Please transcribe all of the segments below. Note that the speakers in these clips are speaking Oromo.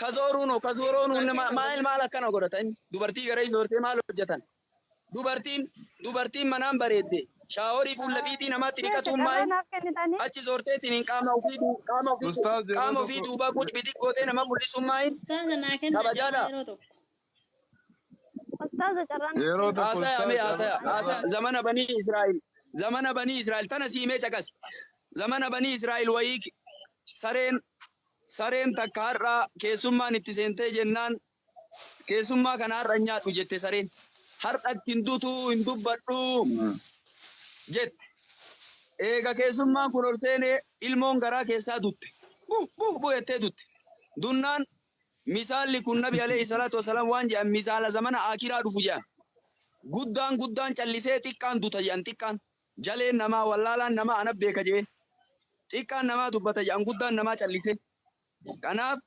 Kazooruun hoo kazooroon hunda ma- maal maal akkana godhata inni dubartii gara ijoortee maal hojjetan dubartiin dubartiin manaan bareedde shaaworii fuula fiitii namaatti Jecha dhiqatuun carraa maa'in naaf kennitanii achi ijoorteetiin hin qaama ofii duu- qaama ofii Ustaaz yeroo qaama ofii tokko duubaa gucbitii gootee nama mul'isuun maa'in Ustaaza naa kennaa Kabajaadha. carraa yeroo tokko. Ustaaza carraan Yeroo tokko Haasaya ustaaz mee haasaya carraa- haasaya carraa- zamana banii Israa'el zamana banii Israa'el tana siimee caqasi zamana banii Israa'el wayii ki- sareen sareen takka har'aa keessummaan itti seentee jennaan keessummaa kana har'a hin nyaadhu jette sareen har'a itti hin dutu hin dubbadhu jette eega keessummaan kun ol seenee ilmoon garaa keessaa dutte buh buh buh jettee dutte dunnaan Misaalli kun Nabi Aleyhi Salaatu Wassalaam waan je'an misaala zamana Aakhiraa dhufu je'an. Guddaan guddaan callisee xiqqaan duta je'an xiqqaan, jaleen namaa, wallaalaan namaa ana beeka je'ee. Xiqqaan namaa dubbata je'an guddaan namaa callisee. Kanaaf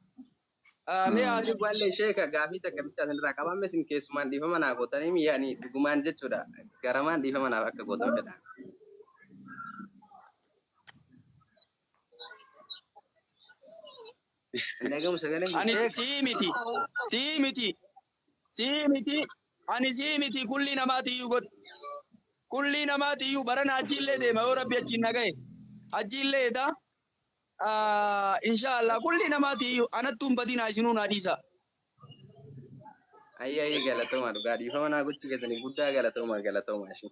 mee haa Ayyuu ballee sheeka gaafii takka bicha asinirraa qaba amma isin keessumaan dhiifama naa gootaniimi yaani dhugumaan jechuudha garamaan dhiifama naaf akka gootan fedha. Ani sii miti. Sii miti. Sii miti. Ani sii miti kullii namaati iyyuu godhi. Kullii namaati iyyuu barana hajjiillee deema yoo rabbi achiin na gahe. Hajjiillee edaa inshaallah kullii namaati iyyuu anattuu hin badinaa isinuu naa dhiisaa. Ayyaayii galatoomaa dhugaa dhiifama naa gochuu keessaniif guddaa galatoomaa galatoomaa ishii.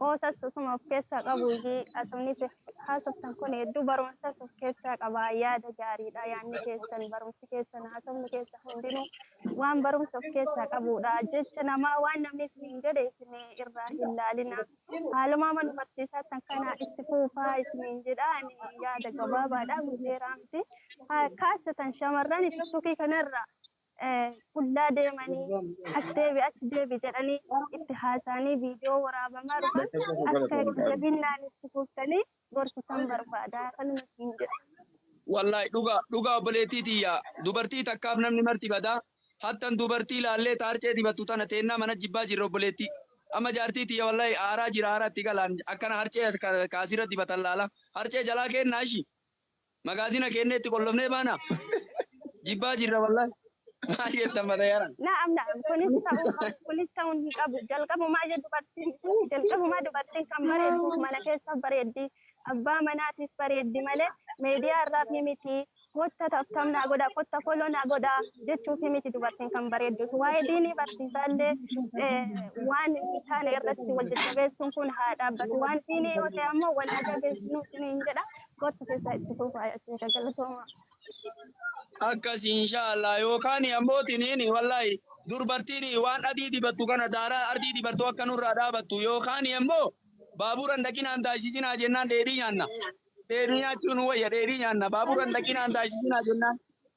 Qoosas osuma of keessaa qabu iyyii haasofni itti haasoftan kun hedduu barumsas of keessaa qaba. Yaada gaariidha yaanni keessan, barumsi keessan, haasofni keessan hundinuu waan barumsa of keessaa qabuudha. Jecha namaa waan namni isiniin jedhe isin irraa hin laalina. Haaluma amma nu barsiisaattan kana itti fuufaa isiniin jedha. Ani yaada gabaabaadha, guuteeraa miti. Kaasatan shamarran tiktukii kanarraa. qullaa deemanii as deebi achi deebi jedhanii itti haasa'anii viidiyoo waraabamaa dhufan akka itti jabinnaan itti fuftanii gorsitan barbaada kanuma siin jedha. Wallahi dhuga dhuga obboleettii tiyya dubartii takkaaf namni marti bada hattan dubartii laallee taarcee dibattu tana teennaa mana jibbaa jirra obboleettii amma jaartii tiyya wallahi aaraa jira aaraa itti galaan akkana harcee kaasirra dibatan laala harcee jalaa keennaa ishi Magaazina keenneetti qollofnee baana. Jibbaa jirra wallahi. Maal jettan matayaran. Na'am na'am kunis ta'uu qabu kunis ta'uun hin qabu jalqabumaa je dubartin jalqabumaa dubartin kan bareedduuf mana keessaf bareeddi abbaa manaatif bareeddi male media irraafi miti kotta tabtab naa godha kotta follow naa godha jechuufi miti dubartin kan bareedduuf waa'ee diinii barsiisaalle waan hin taane irratti wal jajjabeessun kun haa dhaabbatu waan diinii yoo ta'e ammoo wal haa jabeessinu isiniin jedha Kottu keessaa itti fuufaa yaa sheeka galatoomaa. Akkas inshaallah yookaan ammoo tiniin wallahi durbartiin waan adii dibattu kana daaraa ardii dibartuu akka nurraa dhaabattu yookaan ammoo baaburan dhaqinaan taasisinaa jennaan dheedhii nyaanna. Dheedhii nyaachuun wayya dheedhii nyaanna baaburan dhaqinaan taasisinaa jennaan.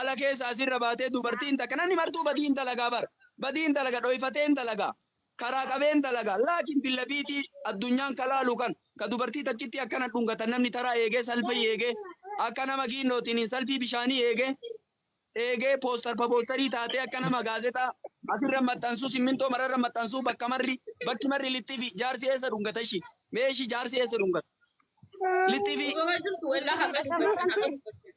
ala keessa asi irra baatee dubartii hin takka namni martuu badii hin dalagaa bar badii hin dalaga dhoyfatee hin dalagaa karaa qabee hin dalagaa laakiin billabiitii addunyaan ka laalu kan ka dubartii takkittii akkana dhungatan namni taraa eegee salfii eegee akka nama giinnootiin hin salfii bishaanii eegee eegee poostar paboostarii taatee akka nama gaazexaa asirra maxxansuu simmintoo mararra maxxansuu bakka marri bakki marri littifi jaarsi eessa dhungata ishi meeshi jaarsi eessa dhungata littifi Dhugaa jirtu walaa haqa dubbatan haqa dubbatan.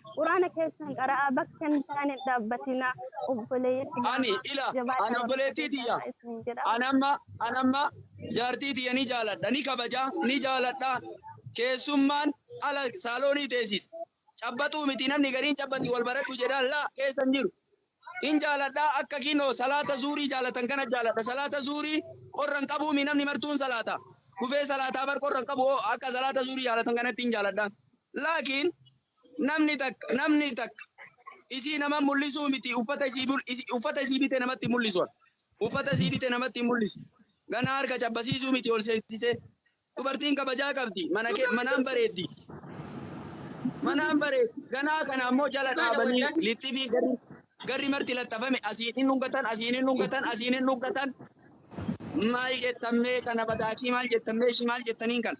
Quraana keessan qara'aa bakka hin taane hin dhaabbatinaa obboleeyyan ani islaamaa ila ani jabaadhaa barumsa obboleettii keessan tiyya irraa isiniin jedha an amma an amma jaartii tiyya ni jaaladha ni kabaja ni jaaladha keessummaan ala saaloonii teessis cabbaxuu miti namni gariin cabbaxi wal baradhu jedhaan laa keessa hin jiru hin jaaladha akka kinoo salaata zuurii jaalatan kana jaaladha salaata zuurii qorra hin qabuu mi namni martuun salaata kufee salaataa bar qorra hin qabu hoo akka salaata zuurii jaalatan kanatti hin jaaladha laakiin Namni takka namni takka isii nama mul'isuu miti uffata isii bul- isi- uffata isii bite namatti hin mul'isu ati. uffata isii bite namatti hin mul'isu ganaa harka cabbasiisuu miti ol seensisee dubartiin kabajaa qabdi mana kee manaan bareeddi manaan bareeddi ganaa kana ammoo jala Dhugaadha dhaabanii wallahi. lixxifii garri garri marti laxxafame asiin hin dhungatan asiin hin dhungatan asiin hin dhungatan maal jettammee kana badaakii maal jettammee ishii maal jettaniin kana.